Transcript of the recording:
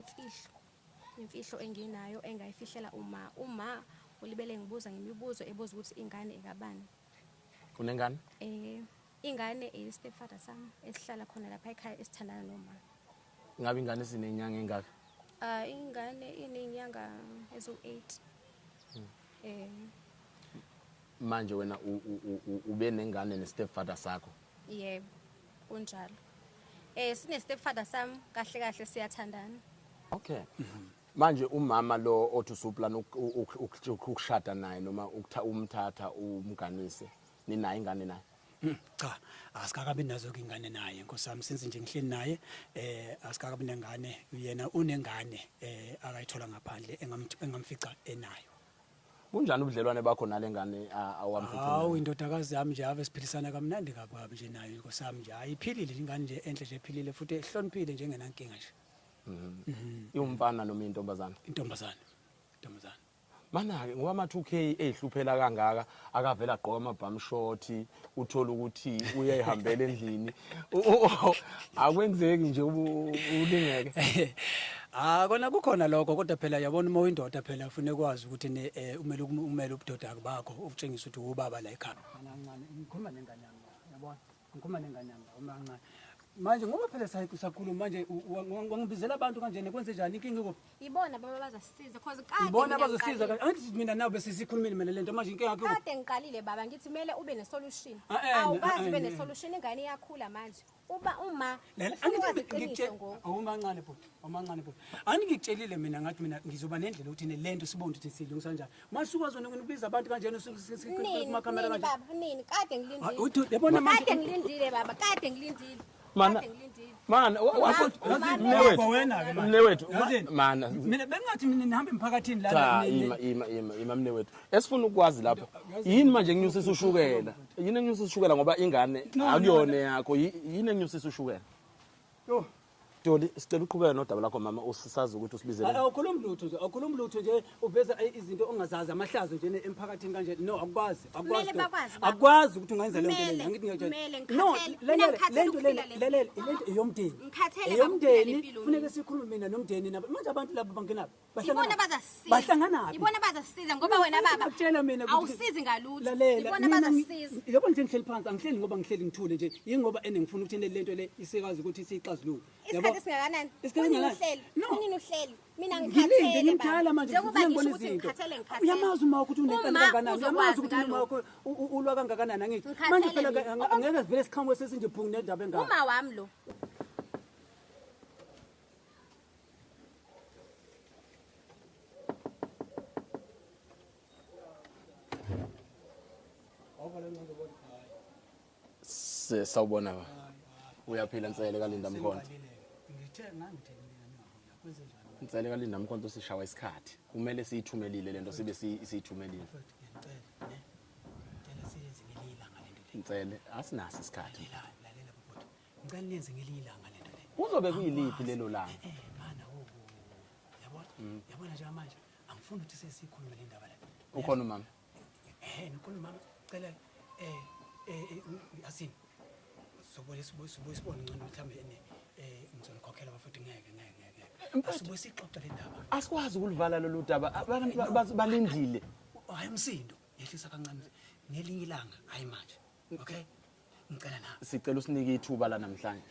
imfihlo imfihlo enginayo engayifihlela uma uma ulibele ngibuza ngemibuzo ebuza ukuthi ingane ekabani unengane eh ingane eyestepfather sami esihlala khona lapha ekhaya esithandana noma ngabe ingane sinenyanga engaka ah ingane inenyanga ezo 8 hmm. eh manje wena ube nengane nestepfather sakho yebo yeah. kunjalo eh sine stepfather sam kahle kahle siyathandana okay manje umama lo othi usuplan ukushada naye noma ukutha umthatha umganise ninayo ingane naye hmm, cha asikakabi nazo ingane naye nkosami since nje ngihleli naye eh asikakabi nengane uyena unengane eh akayithola ngaphandle engamfica enayo Kunjani ubudlelwane bakho nalengane awamphuthu? Hawu indodakazi yami nje ave siphilisana kamnandi ngakwabi nje nayo inkosi yami nje. Ayiphilile ingane nje enhle nje ephilile futhi ehloniphile nje engenankinga nje. Mhm. mhm. Iwumfana noma intombazana? Intombazana. Intombazana. Mana-ke ngoba ama-2k eyihluphela kangaka akavele agqoka amabhamu shoti uthole ukuthi uyayihambela endlini akwenzeki nje ulingeke Ah kona kukhona lokho kodwa phela yabona uma uyindoda phela ufune kwazi ukuthi ne eh, umele umele ubudoda bakho ukutshengisa ukuthi ubaba la ekhaya. Kancane ngikhuluma nengane yami yabona ngikhuluma nengane yami uma kancane. Manje ngoba phela sayiku sakhuluma manje wangibizela abantu kanjena kwenze njani inkinga ikuphi? Yibona baba bazasisiza because kade Yibona bazosiza kahle. Angithi mina nawe bese sikhulumile mina lento manje inkinga yakho. Kade ngiqalile baba ngithi kumele ube ne solution. Ah, eh, Awukazi ah, ube eh, ne eh. solution ingane iyakhula manje. Uba uma Lena angithi ngithe awumancane oh, bhuti, awumancane oh, bhuti. Ani ngitshelile mina ngathi mina ngizoba nendlela ukuthi ne lento sibonde ukuthi silungisa kanjani. Mase ukwazi ukubiza abantu kanjena kuma camera kanjani. Nini baba nini kade ngilindile. Ah, yabona manje. Kade ngilindile baba kade ngilindile. mana mana mne wethu mana mina bengingathi mina nihambe emphakathini la cha ima ima ima ima mne wethu esifuna ukwazi lapho yini manje nginyusisa ushukela yini nginyusisa ushukela ngoba ingane akuyona yakho yini nginyusisa ushukela yo Doli sicela uqhubeke nodaba lakho mama usisazi ukuthi usibizele Awukhulumi lutho nje awukhulumi lutho nje uveza eh, izinto ongazazi amahlazo nje emphakathini kanje no akwazi akwazi akwazi ukuthi ungenza le nto lena ngithi ngiyajela no le nto lena le le lento eyomndeni eyomndeni funeka sikhulume mina nomndeni nabo manje abantu labo bangena bahlangana bazasiza bahlangana ibona bazasiza ngoba wena baba utshela mina awusizi ngalutho ibona bazasiza yebo nje ngihleli phansi angihleli ngoba ngihleli ngithule nje yingoba ene ngifuna ukuthi le lento le isekazi ukuthi siyixazulule yabo isikhathi singakanani isikhathi singakanani no nini uhleli mina ngikhathele ngimdala manje njengoba ngibona izinto uyamazi uma ukuthi unenkani kangakanani uyamazi ukuthi uma wakho ulwa kangakanani angithi manje phela ngeke sivele siqhamuke sesinje phungu nendaba engaka uma wami lo Ovalendo do Boticário. sawubona ba uyaphila nsele kalinda mkhonto ngithe ngangithe nsele kalinda mkhonto sishawa isikhathi kumele siyithumelile lento sibe siyithumelile nsele asinaso isikhathi ngicela niyenze ngelinye ilanga lento le kuzobe kuyiliphi lelo langa eh, eh, mana wo yabona mm. yabona nje manje angifuni ukuthi sesikhulume le ndaba la ukhona umama Eh, ngikhona mama cela eh eh, eh asini. Sobuye sibuye sibuye sibone ngcono mhlambe ene eh ngizonikokhela bafuthi ngeke ngeke ngeke. Asibuye sixoxe le ndaba. Asikwazi ukulivala lolu daba. Abantu ba- ba- balindile. Hayi umsindo, yehlisa kancane ngelinye ilanga, hayi manje. Okay? Ngicela na. Sicela usinike ithuba la namhlanje.